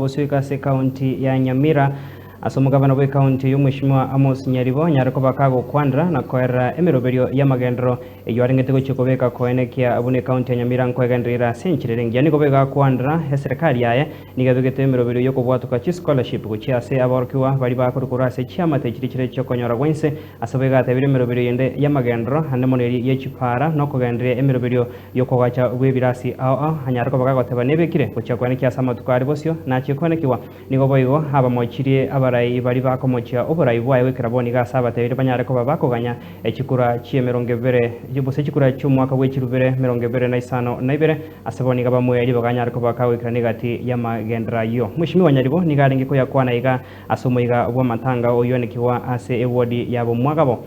Gosuika ase ekaunti ya Nyamira ase omogabane bw'ekaunti oyio Mweshimiwa Amos Nyaribo nyare koba kagokwanera na koerera emeroberio y'amagenderero eyio arengete gochia kobeka koene ekiya buna ekaunti ya Nyamira nkwegenderera ira ase enchera ere engiya nigo boigo akwanera eserekari yaye nigo ebegete emeroberio y'okobwatoka chischolarship gochia ase aborokigwa baria bakorwa korwa ase chiamate chiria chire chi'okonyora gwense Ase boigo atebirie emeroberio yende y'amagendero ande mono eria ye chipaara, na okogenderia emeroberio y'okogacha gw'ebirasi ao ao anyare koba gagoteba nebekire gochia kwane ki ase amatuko are bosio nachie koenekigwa. Nigo boigo abamochirie abarai baria bakomochia oborai bwaye bw'ekerabo nigo ase abatebire banyare koba bakoganya chikura chi'emerongo ebere gose chikura chi'omwaka bwe chirubere merongo ebere na isano na ibere. Ase bo niga bamwe ribaga anyare koba kagoikerana egati y'amagendero ayio. Mweshimiwa nyaribo nigo arenge koyakwana iga. Ase omoika bw'amatanga oyoanekigwa ase ewodi y'abomwagamo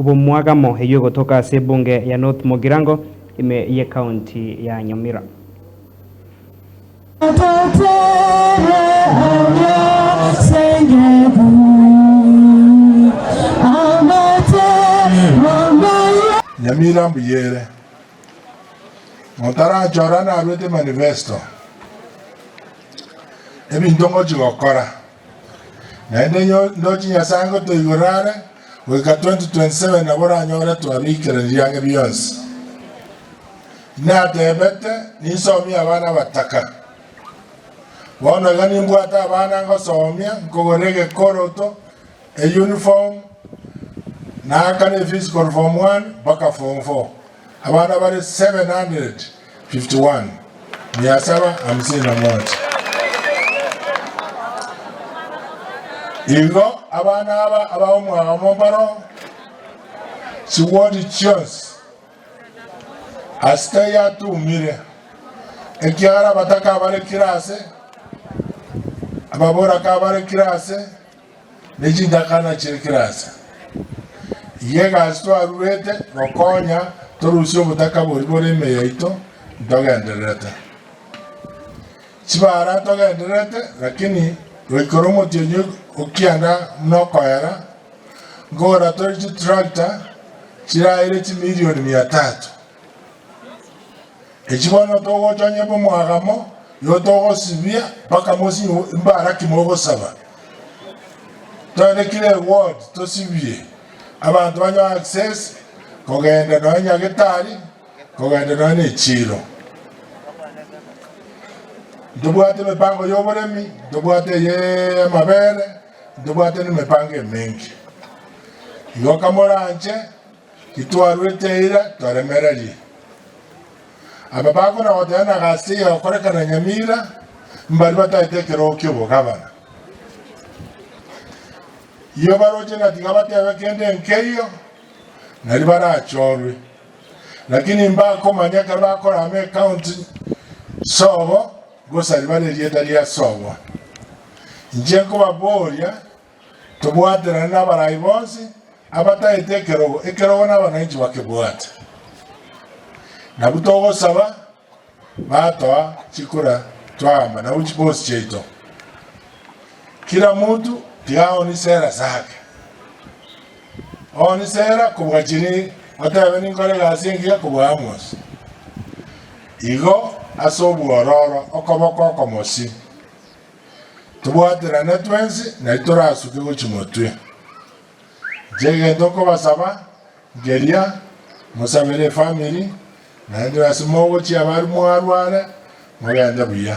b'omwagamo eyio egotoka ase ebunge ya North Mugirango, ime y'ecounty ya Nyamira. Totere amya sengebu amate mamaye. Nyamira mbuya ere. Motarachora naruete manifesto, ebinto ngochia gokora, naende ndoche Nyasae ngotoigorere are goika 2027 nabo oranyore twabikeranirie ang'e bionsi. Natebete ninsomie abana abataka, bono iga nimbwate abana ngosomia, nkogorera egekoroto. Eyuniform, na kare efees korwa form one mpaka form four, abana bare 751, mia saba hamsini na moja. Igo abana aba ab'omwaka mombaro chiwodi chionsi, asita yatumire, ekiagera abataka bare kirase, ababoraka bare kirase. Ne chintakana chie kirasi eye egasi twaruete gokonya torusie obotaka bori bore ime yaito ntogendererete. Chibara togendererete lakini goikera omotienyi okianda buna okoera nkogora tore chitractor chiraire chimirioni mia tatu. Echi bono togocha onye bw'omwagamo, nigo togosibia mpaka mosibwe mbara ki mogosaba. Togende kira eward tosibie abanto banywe access kogenda nonye nyagetari, kogenda nonye ne echiro. Ntobwate emepango y'oboremi, ntobwate eye y'amabere, ntobwate nemepango emenki. Igo kamoranche. Titwarwete eira toremererie. Aba bakora goteba na gasiya gokorekana nyamira mbari bataete ekerogo ki'obogabana. Iyo baroche na tiga batebe kende nkeiyo, nari barachorwe. Lakini mbakomanya ekero bakora ama account sobo gosari bare erieta ria sobo. Inche nkobaboria Tobwaterane n'abarai bonsi abataete ekerogo, ekerogo nabananchi bakebwate. Nabwo togosaba batoa chikura twaamba nabo chibosi chiaito. Kira monto tiga aonisera asake. Oonisera kobua chiri otebe ninkore egasi engiya kobua Amos. Igo ase obwororo okoboko okomosi. Tobwaterane twensi ng'ai torasuke gochia motwe. Inche egento nkobasaba nkeria, mosabere efamiri, naende ase mogochia abari mwarware, mogende buya.